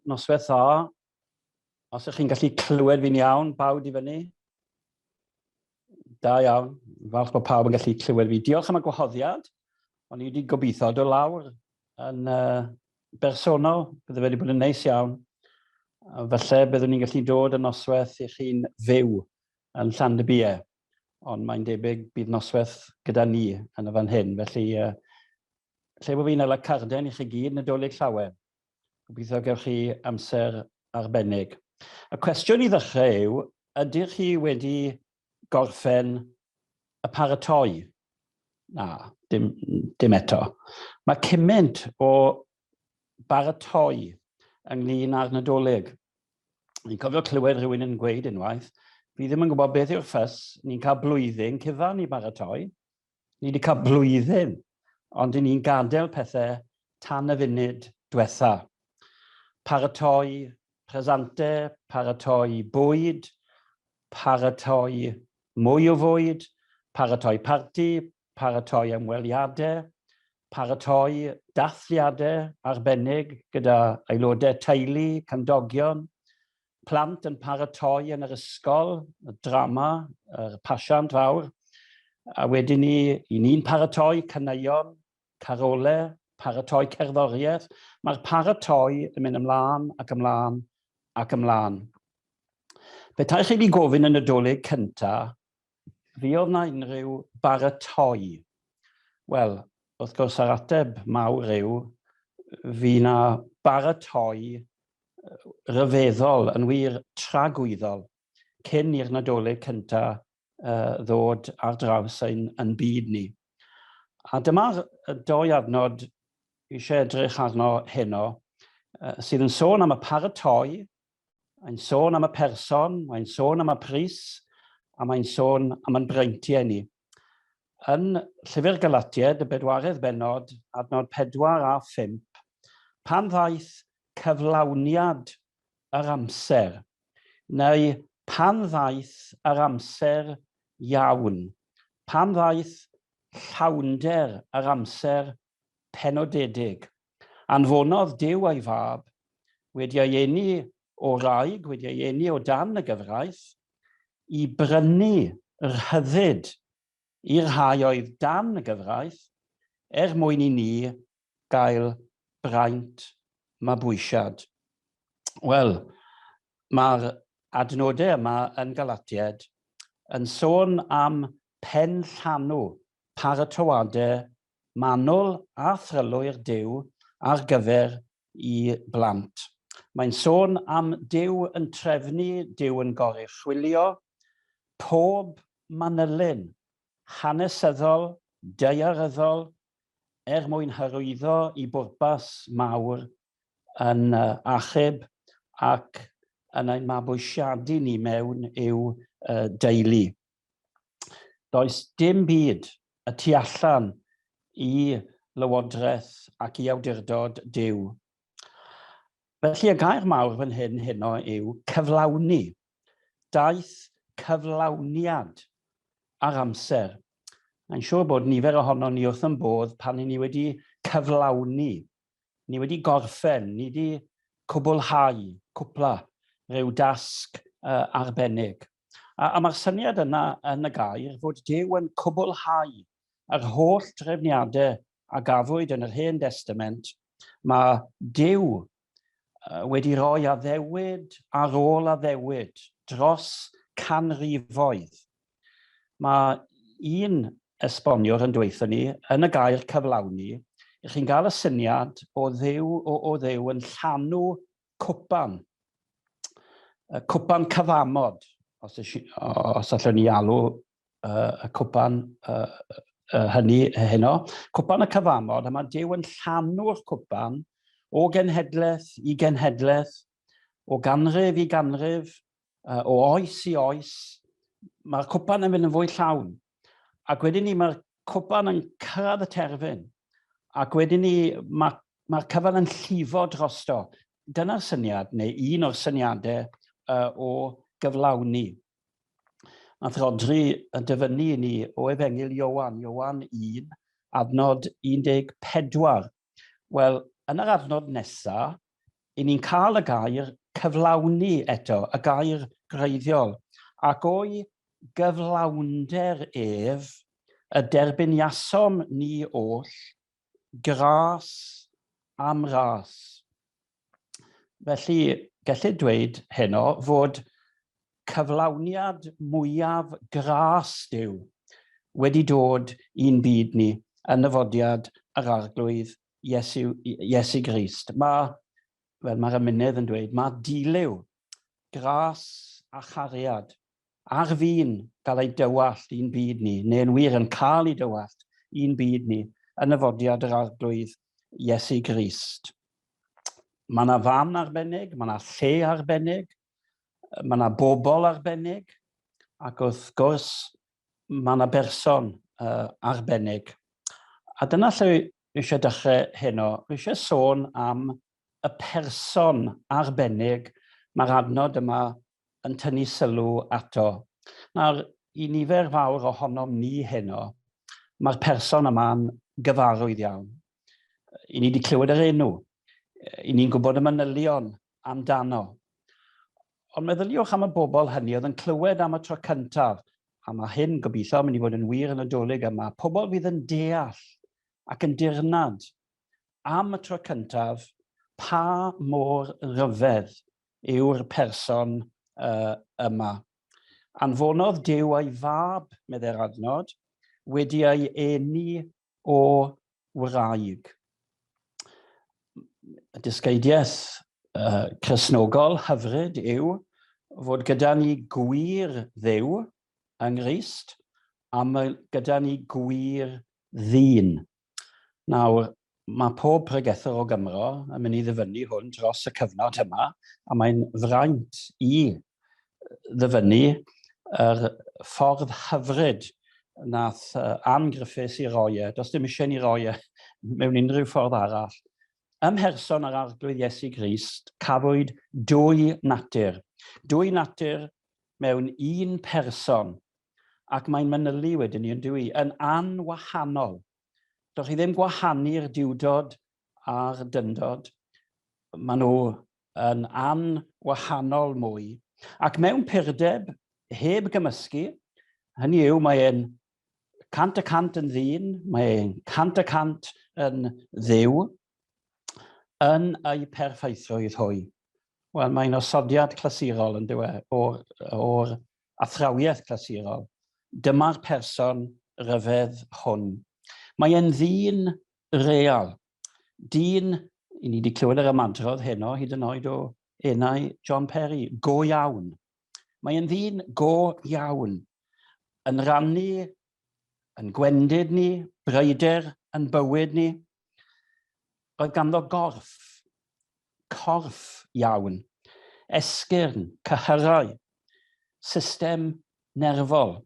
Noswaith dda. Os ydych chi'n gallu clywed fi'n iawn, bawd i fyny. Da iawn. Falch bod pawb yn gallu clywed fi. Diolch am y gwahoddiad. O'n i wedi gobeithio dod lawr yn uh, bersonol. Bydde fe wedi bod yn neis iawn. Felly byddwn ni'n gallu dod yn noswaith i chi'n fyw yn Llandybiau. ond mae'n debyg bydd noswaith gyda ni yn y fan hyn. Felly, uh, lle bod fi'n ala carden i chi gyd, Nadolig Llawen. Gobeithio gewch chi amser arbennig. Y cwestiwn i ddechrau yw, ydych chi wedi gorffen y paratoi? Na, dim, dim eto. Mae cymaint o baratoi ynglyn â'r Nadolig. Ni'n cofio clywed rhywun yn gweud unwaith, fi ddim yn gwybod beth yw'r ffys, ni'n cael blwyddyn cyfan i baratoi, ni wedi cael blwyddyn, ond i ni'n gadael pethau tan y funud diwetha. Paratoi presante, paratoi bwyd, paratoi mwy o fwyd, paratoi parti, paratoi ymweliadau, paratoi dathliadau arbennig gyda aelodau teulu, cymdogion, plant yn paratoi yn yr ysgol, y drama, yr pasiant fawr, a wedyn ni, i ni'n paratoi caneuon, carolau, paratoi cerddoriaeth. Mae'r paratoi yn mynd ymlaen ac ymlaen ac ymlaen. Petaech chi wedi gofyn yn y dolyg cyntaf Fi oedd na unrhyw baratoi? Wel, wrth gwrs yr ateb mawr yw fi na baratoi ryfeddol, yn wir tragwyddol, cyn i'r Nadolig cynta uh, ddod ar draws ein, yn byd ni. A dyma'r doi adnod eisiau edrych arno heno, uh, sydd yn sôn am y paratoi Mae'n sôn am y person, mae'n sôn am y pris, a mae'n sôn am yn breintiau ni. Yn Llyfr Galatied, y bedwaredd benod, adnod 4 a 5, pan ddaeth cyflawniad yr amser, neu pan ddaeth yr amser iawn, pan ddaeth llawnder yr amser penodedig. Anfonodd Duw ei Fab, wedi ei eni o wraig, wedi ei eni o dan y gyfraith, i brynu rhyddid i'r rhai oedd dan y gyfraith, er mwyn i ni gael braint mabwysiad. Wel, mae'r adnodau yma yn Galatiaid yn sôn am pen llanw paratoadau manwl a thrylwyr Duw ar gyfer i blant. Mae'n sôn am Duw yn trefnu, Duw yn goruchwylio pob manylyn hanesyddol, daearyddol er mwyn hyrwyddo i bwrpas mawr yn achub ac yn ein mabwysiadu ni mewn i'w deulu. Does dim byd y tu allan i lywodraeth ac i awdurdod Duw. Felly y gair mawr fan hyn heno yw cyflawni. Daeth cyflawniad ar amser. Mae'n siŵr bod nifer ohono ni wrth yn bodd pan ni wedi cyflawni, ni wedi gorffen, ni wedi cwblhau, cwpla, rhyw dasg uh, arbennig. A, a mae'r syniad yna yn y gair fod Duw yn cwblhau yr holl drefniadau a gafwyd yn yr Hen Destament, mae Duw wedi rhoi addewid ar ôl addewid dros canrifoedd. Mae un esboniwr yn dweithio ni, yn y gair cyflawni, chi'n gael y syniad o ddew, o, o ddew yn llanw cwpan, y cwpan cyfamod, os, os allwn ni alw uh, y cwpan uh, uh, hynny heno, cwpan y cyfamod, a mae Dyw yn llanw'r cwpan o genhedlaeth i genhedlaeth, o ganrif i ganrif, uh, o oes i oes, mae'r cwpan yn mynd yn fwy llawn. Ac wedyn ni, mae'r cwpan yn cyrraedd y terfyn. Ac wedyn ni, mae'r mae cyfan yn llifo drosto. Dyna'r syniad, neu un o'r syniadau uh, o gyflawni. Nath Rodri yn dyfynnu ni o efengil Iowan, Iowan 1, adnod 14. Wel, yn yr adnod nesaf, 'y ni'n cael y gair 'cyflawni' eto, y gair gwreiddiol, ac o'i gyflawnder ef y derbyniasom ni oll, gras am ras. Felly, gellid dweud heno fod cyflawniad mwyaf gras Duw wedi dod i'n byd ni yn nyfodiad yr Arglwydd Iesu, Iesu Grist. Mae, fel mae'r ymunydd yn dweud, mae dilew, gras a chariad ar fin cael ei dywallt i'n byd ni, neu'n wir yn cael ei dywallt i'n byd ni, yn y fodiad yr arglwydd Iesu Grist. Mae yna fam arbennig, mae yna lle arbennig, Mae yna bobl arbennig ac wrth gwrs mae yna berson uh, arbennig. A dyna lle fi eisiau dechrau heno. Fi eisiau sôn am y person arbennig mae'r adnod yma yn tynnu sylw ato. Nawr, i nifer fawr ohonom ni heno, mae'r person yma'n gyfarwydd iawn. I ni wedi clywed yr enw, i ni'n gwybod y manylion amdano. Ond meddyliwch am y bobl hynny oedd yn clywed am y tro cyntaf, a mae hyn gobeithio yn mynd i fod yn wir yn y dolyg yma, pobl fydd yn deall ac yn dirnad am y tro cyntaf pa mor ryfedd yw'r person uh, yma. Anfonodd Dyw a'i fab, medde'r adnod, wedi ei eni o wraig. Y dysgeidiaeth uh, chrysnogol hyfryd yw fod gyda ni gwir ddew yng Nghyst a mae gyda ni gwir ddyn. Nawr, mae pob pregethwr o Gymro yn mynd i ddyfynnu hwn dros y cyfnod yma, a mae'n fraint i ddyfynnu yr ffordd hyfryd nath Ann Griffiths i roi e, does dim eisiau ni roi e mewn unrhyw ffordd arall. Ym mherson yr Arglwydd Iesu Grist, cafwyd dwy natur. Dwy natur mewn un person, ac mae'n manylu wedyn ni yn dwy, yn anwahanol. Dych chi ddim gwahanu'r diwdod a'r dyndod, maen nhw yn an wahanol mwy ac mewn purdeb heb gymysgu, hynny yw mae e'n cant y cant yn ddyn, mae e'n cant y cant yn dduw, yn ei perffeithrwydd hwy. Wel, mae'n osodiad clasurol yn dywe o'r, or athrawiaeth clasurol. Dyma'r person ryfedd hwn. Mae e'n ddyn real, dyn, i ni wedi clywed yr ymadrodd heno, hyd yn oed o enau John Perry, go iawn. Mae yn ddyn go iawn, yn rannu, yn gwendid ni, bryder yn bywyd ni. Roedd ganddo gorff, corff iawn, esgyrn, cyhyrau, system nerfol.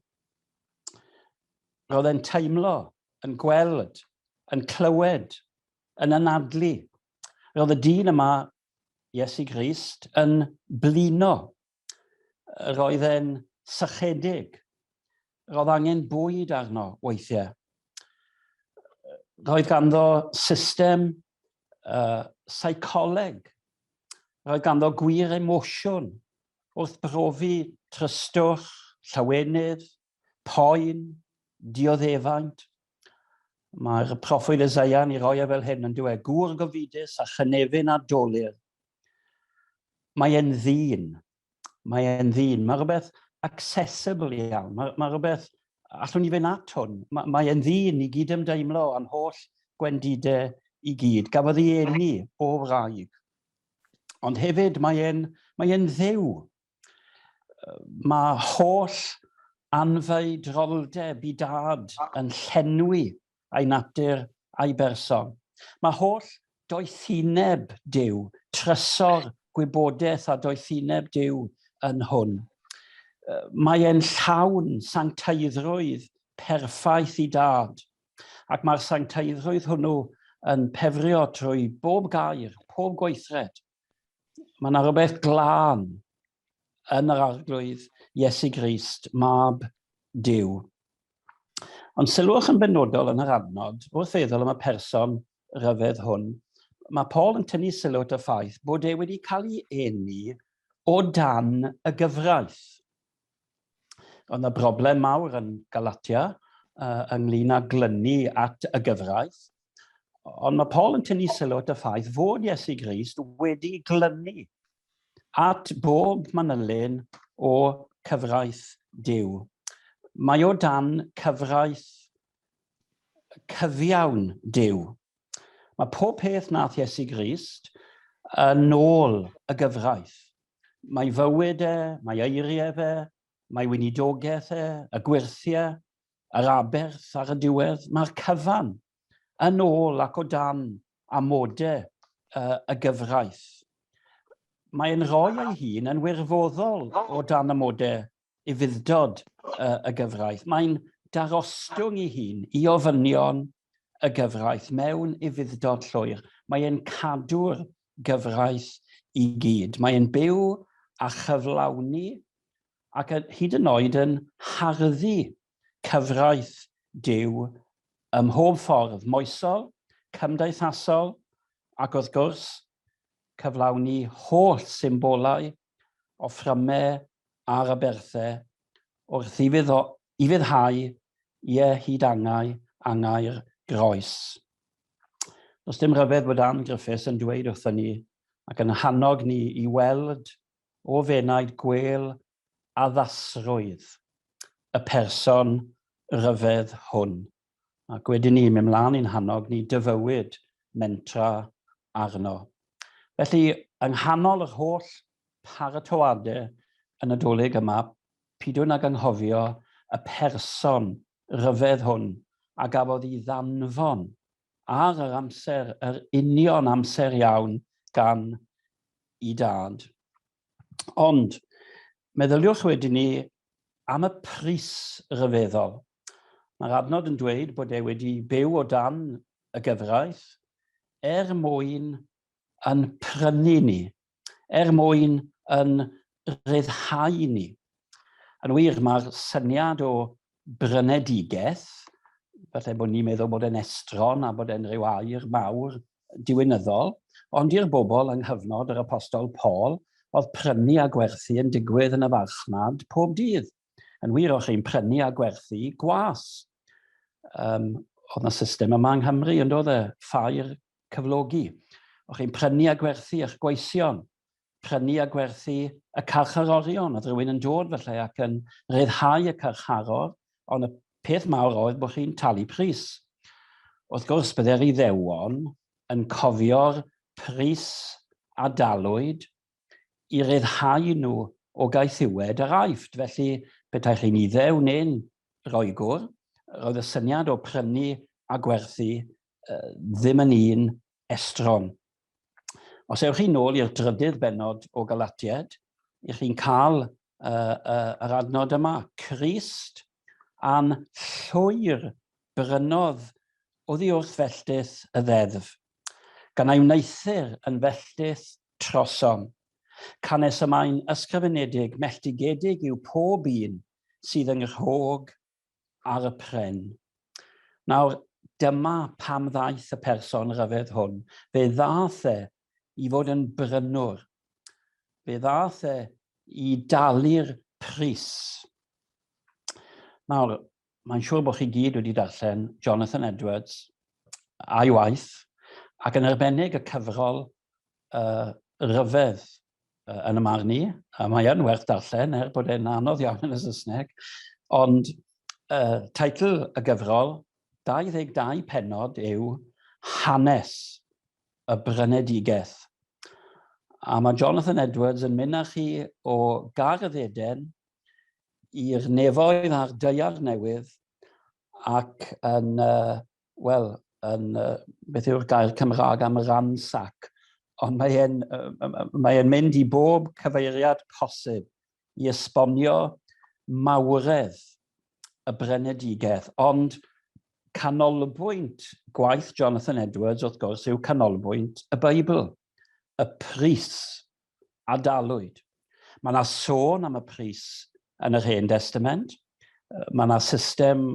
Roedd e'n teimlo yn gweld, yn clywed, yn anadlu. Roedd y dyn yma, Iesu Grist, yn blino. Roedd e'n sychedig. Roedd angen bwyd arno weithiau. Roedd ganddo system uh, seicoleg. Roedd ganddo gwir emosiwn wrth brofi trystwch, llawenydd, poen, dioddefaint. Mae'r proffwyd Esaia yn ei roi e fel hyn yn dweud, gŵr gofidus a chynefin a dolir. Mae e'n ddyn. Mae e'n ddyn. Mae rhywbeth accessible iawn. Mae, mae rhywbeth allwn ni fynd at hwn. Mae, mae e'n ddyn i gyd ymdeimlo am holl gwendidau i gyd. Gafodd ei eni o wraig. Ond hefyd mae e'n mae e'n ddew. Mae holl anfeidroldeb i Dad yn llenwi ei natur a'i berson. Mae holl doethineb Duw, trysor gwybodaeth a doethineb Duw yn hwn. Mae e'n llawn sancteiddrwydd perffaith i Dad, ac mae'r sancteiddrwydd hwnnw yn pefrio trwy bob gair, pob gweithred, Mae yna rhywbeth glân yn yr arglwydd Iesu Grist, mab Dyw. Ond sylwch yn benodol yn yr adnod, wrth feddwl am y person rhyfedd hwn, mae Paul yn tynnu sylw at y ffaith bod e wedi cael ei eni o dan y gyfraith. Oedd yna broblem mawr yn Galatia uh, ynglyn â glynu at y gyfraith. Ond mae Paul yn tynnu sylw at y ffaith fod Iesu Grist wedi glynu at bob manylun o cyfraith Dyw. Mae o dan cyfraith cyfiawn Dyw. Mae pob peth nath Iesu Grist yn ôl y gyfraith. Mae fywyd e, mae eiriau fe, mae weinidogaeth e, y gwyrthiau, yr aberth ar y diwedd, mae'r cyfan yn ôl ac o dan amodau uh, y gyfraith. Mae'n rhoi ei hun yn wirfoddol o dan amodau ufudd-dod y gyfraith. Mae'n darostwng i hun i ofynion y gyfraith mewn ufudd-dod llwyr. Mae e'n cadw'r gyfraith i gyd. Mae e'n byw a chyflawni ac yn, hyd yn oed yn harddu cyfraith Duw ym mhob ffordd moesol, cymdeithasol ac wrth gwrs cyflawni holl symbolau o fframau ar aberthau wrth iddo ufuddhau ie hyd angau, angau'r groes. Does dim rhyfedd fod Ann Griffiths yn dweud wrthyn ni ac yn hannog ni i weld o fenaid gwêl addasrwydd y person ryfedd hwn. ac wedyn ni mynd mlaen i'n hannog ni dyfywyd mentra arno. Felly, yng nghanol yr holl paratoade y Nadolig yma, pidwn ag anghofio y person ryfedd hwn a gafodd i ddanfon ar yr amser, yr union amser iawn gan i dad. Ond, meddyliwch wedyn ni am y pris ryfeddol Mae'r adnod yn dweud bod e wedi byw o dan y gyfraith er mwyn yn prynu ni, er mwyn yn ryddhau ni. Yn wir, mae'r syniad o brynedigaeth, falle bod ni'n meddwl bod e'n estron a bod e'n rhyw air mawr diwinyddol, ond i'r bobl yng nghyfnod yr apostol Paul, oedd prynu a gwerthu yn digwydd yn y farchnad pob dydd. Yn wir, o'ch chi'n prynu a gwerthu gwas. Um, oedd yna system yma yng Nghymru, yn dod e, ffair cyflogi. O'ch chi'n prynu a gwerthu eich gweision, prynu a gwerthu y carcharorion. Oedd rhywun yn dod felly ac yn rhyddhau y carcharor, ond y peth mawr oedd bod chi'n talu pris. Wrth gwrs, byddai'r iddewon yn cofio'r pris a dalwyd i ryddhau nhw o gaethiwed yr Aifft. Felly, petai chi'n Iddew neu'n Roegwr, roedd y syniad o prynu a gwerthu ddim yn un estron. Os ewch chi nôl i'r drydydd bennod o Galatiaid, 'ych chi'n cael uh, uh, yr adnod yma, Crist am llwyr brynodd oddi wrth felltith y ddeddf, gan ei wneithir yn felltith trosom. Canes y mae'n ysgrifenedig, melltigedig yw pob un sydd yng nghrog ar y pren. Nawr, dyma pam ddaeth y person rhyfedd hwn. Fe ddaeth e i fod yn brynwr. Fe ddaeth e i dalu'r pris. Nawr, mae'n siŵr bod chi gyd wedi darllen Jonathan Edwards a'i waith, ac yn arbennig y cyfrol rhyfedd yn y marn i, a mae yn werth darllen er bod e'n anodd iawn yn y Saesneg, ond uh, teitl y gyfrol 22 penod yw Hanes y Brynedigaeth. A mae Jonathan Edwards yn mynd â chi o gardd Eden i'r nefoedd a'r deiar newydd ac yn uh, wel, yn, uh, beth yw'r gair Cymraeg am ransac, ond mae'n mae e'n mynd i bob cyfeiriad posib i esbonio mawredd y brenedigaeth, ond canolbwynt gwaith Jonathan Edwards, wrth gwrs, yw canolbwynt y Beibl, y pris a dalwyd. Mae yna sôn am y pris yn yr Hen Destament. Mae yna system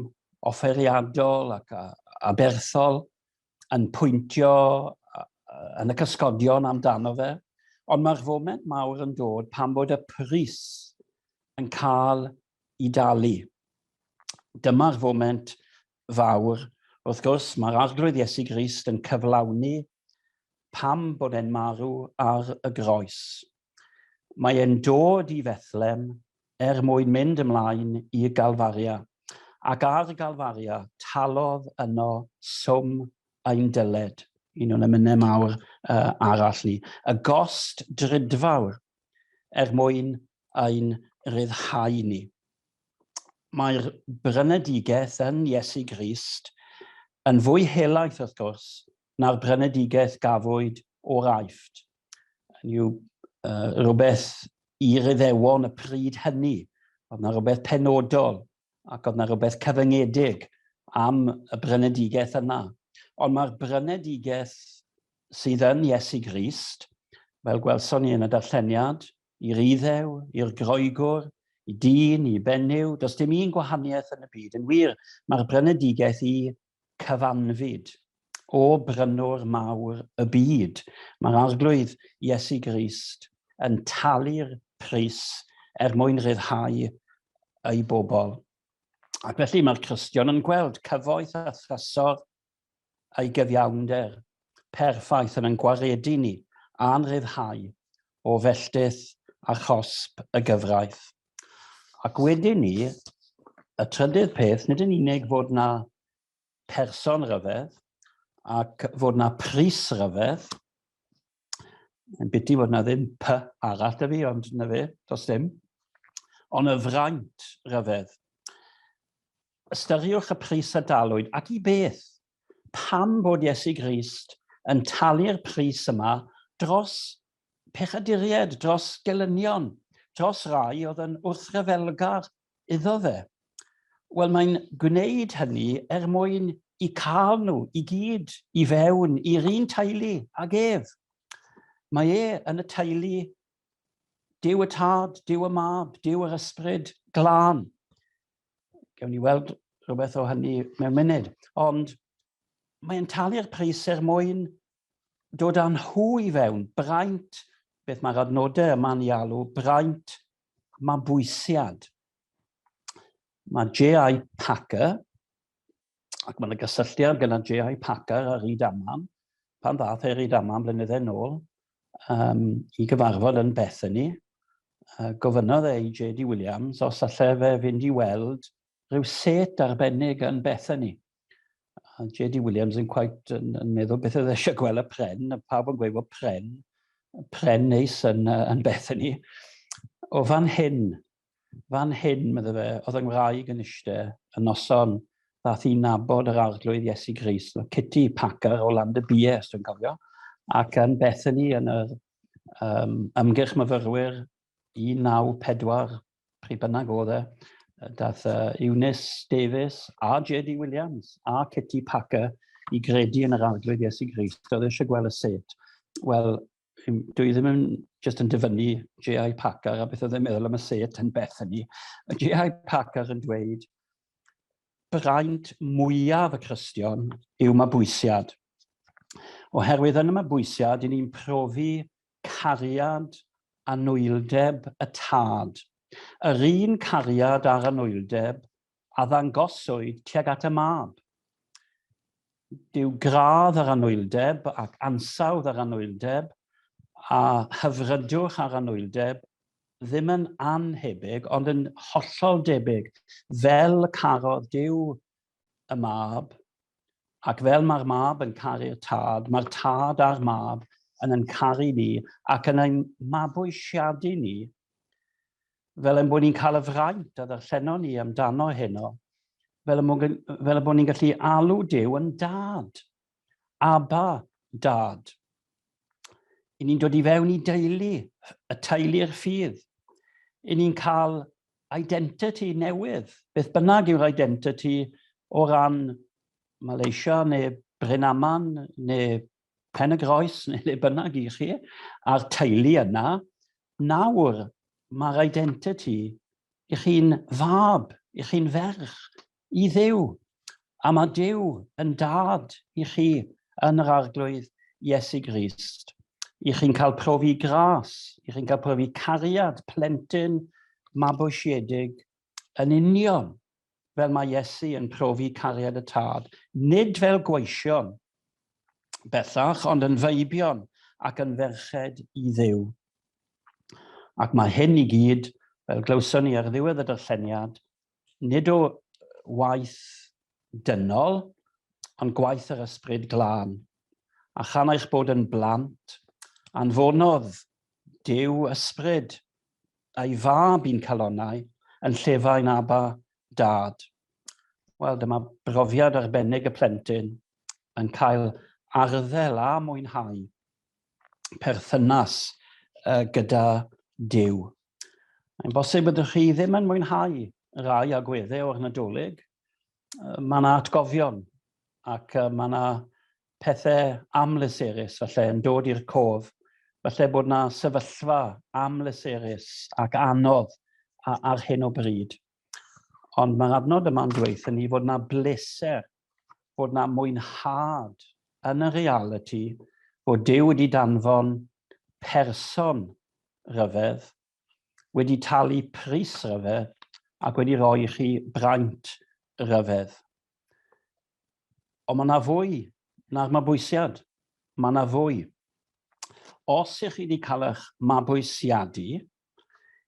offeriadol ac aberthol yn pwyntio yn y cysgodion amdano fe. Ond mae'r foment mawr yn dod pan bod y pris yn cael i dalu. Dyma'r foment fawr. Wrth gwrs, mae'r Arglwydd Iesu Grist yn cyflawni pam bod e'n marw ar y groes. Mae e'n dod i Fethlem er mwyn mynd ymlaen i Galfaria, ac ar Galfaria talodd yno swm ein dyled. Un o'n emynau mawr arall ni. Y gost drudfawr er mwyn ein rhyddhau ni. Mae'r brynedigaeth yn Iesu Grist yn fwy helaeth, wrth gwrs, na'r brynedigaeth gafwyd o'r Aifft. Yn yw uh, rhywbeth i ryddewon y pryd hynny. Oedd na rhywbeth penodol ac oedd na rhywbeth cyfyngedig am y brynedigaeth yna. Ond mae'r brynedigaeth sydd yn Iesu Grist, fel gwelson ni yn y darlleniad, I'r Iddew, i'r Groegwr, i dyn, i benyw, does dim un gwahaniaeth yn y byd. Yn wir, mae'r brynedigaeth i cyfanfyd. O brynwr mawr y byd, mae'r Arglwydd, Iesu Grist, yn talu'r pris er mwyn rhyddhau ei bobl. Ac felly mae'r Cristion yn gweld cyfoeth a thrysor ei gyfiawnder perffaith yn ein gwaredu ni a'n rhyddhau o felltith a chosb y gyfraith. Ac wedyn ni, y trydydd peth, nid yn unig fod na person rhyfedd ac fod na pris rhyfedd, Yn biti fod na ddim py arall da fi, ond na fe, dos dim. Ond y fraint rhyfedd. Ystyriwch y pris a dalwyd, ac i beth? Pam bod Iesu Grist yn talu'r pris yma dros pechaduried, dros gelynion, dros rai oedd yn wrthryfelgar iddo fe. Wel, mae'n gwneud hynny er mwyn i cael nhw i gyd i fewn i'r un teulu ag ef. Mae e yn y teulu Dyw y Tad, Dyw y Mab, Dyw yr Ysbryd Glân. Gewn ni weld rhywbeth o hynny mewn munud. Ond mae'n talu'r pris er mwyn dod â nhw i fewn, braint, beth mae'r adnodau yma'n ei alw, braint mabwysiad. Mae J.I. Packer, ac mae'n y gysylltiad gyda J.I. Packer a Ryd Amman, pan ddath e Ryd Amman flynyddau nôl um, i gyfarfod yn Bethany, uh, gofynnodd e i J.D. Williams os allai fe fynd i weld rhyw set arbennig yn Bethany. A J.D. Williams yn quite yn, yn meddwl beth oedd eisiau gweld y pren, a pawb yn gweud bod pren, pren neis yn, yn beth yn ni. O fan hyn, fan hyn, meddwl fe, oedd yng Ngwraig yn eistedd y noson, ddath i nabod yr arglwydd Iesu Gris, Kitty Packer o Land y Bie, os dwi'n cofio, ac yn Bethany yn yr um, ymgyrch myfyrwyr 1940, pryd bynnag oedd e, dath uh, Eunice Davis a J.D. Williams a Kitty Packer i gredu yn yr arglwydd Iesu Grist, oedd e eisiau gweld y set. Wel, dwi ddim yn just yn dyfynnu J.I. Packer a beth oedd e'n meddwl am y set yn beth hynny. J.I. Packer yn dweud, braint mwyaf y Cristion yw mabwysiad. Oherwydd yn y mabwysiad, i ni'n profi cariad anwyldeb y Tad, yr un cariad a'r anwyldeb a ddangoswyd tuag at y Mab. Dyw gradd yr anwyldeb ac ansawdd yr anwyldeb a hyfrydwch ar anwyldeb ddim yn annhebyg, ond yn hollol debyg, fel carodd Duw y mab, ac fel mae'r mab yn caru'r tad, mae'r tad a'r mab yn yn caru ni ac yn ein mabwysiadu ni, fel ein bod ni'n cael y fraint a ddarllenon ni amdano heno, fel y bod ni'n gallu alw Dyw yn dad. Aba, dad. I ni'n dod i fewn i deulu, y teulu'r ffydd. I ni'n cael identity newydd, beth bynnag yw'r identity o ran Malaysia neu Brynaman neu Pen y Groes neu le bynnag i chi, a'r teulu yna, nawr mae'r identity i chi'n fab, i chi'n ferch, I Dduw, a mae Duw yn dad i chi yn yr Arglwydd Iesu Grist. I chi'n cael profi gras, i chi'n cael profi cariad plentyn mabwysiedig yn union fel mae Iesu yn profi cariad y tad, nid fel gweision bellach, ond yn feibion ac yn ferched i ddiw. Ac mae hyn i gyd, fel glywson ni ar ddiwedd y darlleniad, nid o waith dynol, ond gwaith yr Ysbryd Glân. A chan eich bod yn blant, anfonodd Duw Ysbryd a'i fab i'n calonnau yn llefain Aba, Dad. Wel, dyma brofiad arbennig y plentyn yn cael arddel a mwynhau perthynas uh, gyda Dyw. Mae'n bosib ydych chi ddim yn mwynhau rai agweddau o'r Nadolig. Uh, mae yna atgofion ac uh, mae yna pethau amlyserus felly yn dod i'r cof. Felly bod yna sefyllfa amlyserus ac anodd ar hyn o bryd. Ond mae'r adnod yma'n dweud ni fod yna bleser, fod yna mwynhad yn y realiti fod Duw wedi danfon person rhyfedd, wedi talu pris rhyfedd ac wedi rhoi i chi braint rhyfedd. Ond mae yna fwy na'r mabwysiad. Mae yna fwy. Os ych chi wedi cael eich mabwysiadu,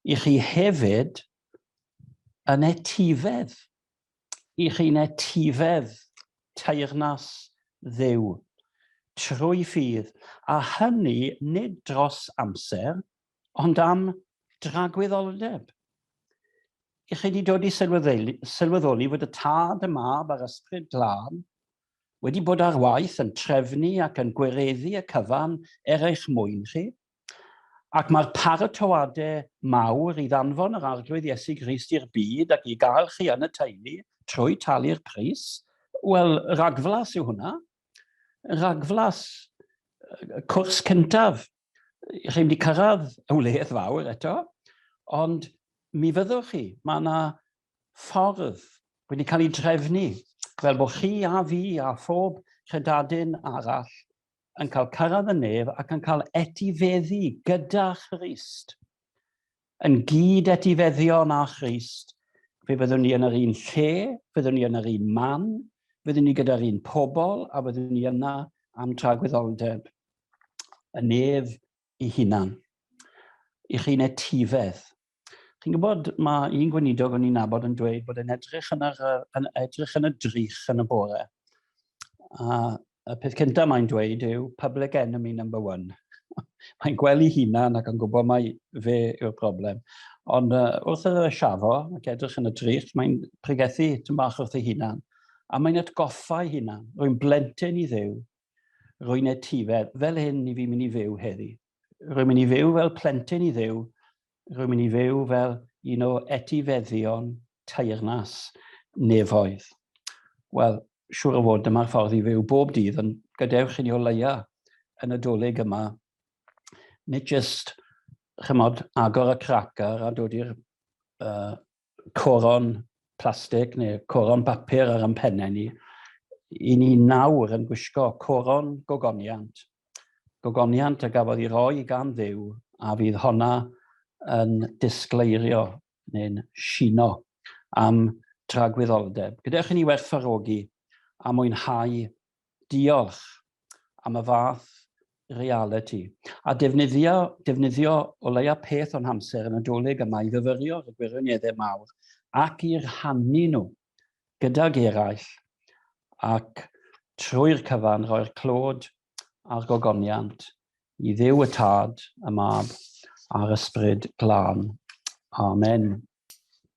I chi hefyd yn etifedd. I chi'n etifedd teyrnas Dduw, trwy ffydd, a hynny nid dros amser, ond am dragwyddoldeb. I chi wedi dod i sylweddoli fod y Tad, y Mab a'r Ysbryd Glân wedi bod ar waith yn trefnu ac yn gwireddu y cyfan er eich mwyn chi, Ac mae'r paratoadau mawr i ddanfon yr Arglwydd Iesu Grist i'r byd ac i gael chi yn y teulu trwy talu'r pris, wel, rhagflas yw hwnna. Rhagflas, cwrs cyntaf. Rhaid wedi cyrraedd y wledd fawr eto, ond mi fyddwch chi, mae yna ffordd wedi cael ei drefnu fel bod chi a fi a phob credadun arall yn cael cyrraedd y nef ac yn cael etifeddu gyda Christ. Yn gyd etifeddion â Christ, fe fyddwn ni yn yr un lle, fyddwn ni yn yr un man, fyddwn ni gyda'r un pobl a fyddwn ni yna am tragwyddoldeb. Y nef i hunan, i chi'n etifedd. Chi'n gwybod, mae un gweinidog o'n i'n nabod yn dweud bod e'n edrych yn, yr, yn, edrych yn y drych yn y bore. A y peth cyntaf mae'n dweud yw public enemy number one. mae'n gwely hunan ac yn gwybod mai fe yw'r broblem. Ond uh, wrth yr siafo ac edrych yn y drych, mae'n pregethu tyn bach wrth ei hunan. A mae'n atgoffa ei hunan, rwy'n blentyn i ddew, Rwy'n etifedd fel hyn i fi mynd i fyw heddi. Rwy'n mynd i fyw fel plentyn i ddew. Rwy'n mynd i fyw fel un o etifeddion teyrnas nefoedd. Wel, siwr o fod dyma'r ffordd i fyw bob dydd, ond gadewch i ni o leia yn y dolyg yma, nid jyst chymod, agor y cracar a dod i'r uh, coron plastig neu coron bapur ar ein pennau ni, i ni nawr yn gwisgo coron gogoniant. Gogoniant a gafodd ei roi gan ddew a fydd honna yn disgleirio neu'n sino am tragwyddoldeb. Gyda chi ni werthfarogi a mwynhau Diolch am y fath realiti. A defnyddio, defnyddio o leia peth o'n hamser y Nadolig yma i fyfyrio ar y gwirioneddau mawr ac i rhannu nhw gydag eraill ac trwy'r cyfan rhoi'r clod a'r gogoniant i Dduw y Tad, y Mab a'r Ysbryd Glân. Amen.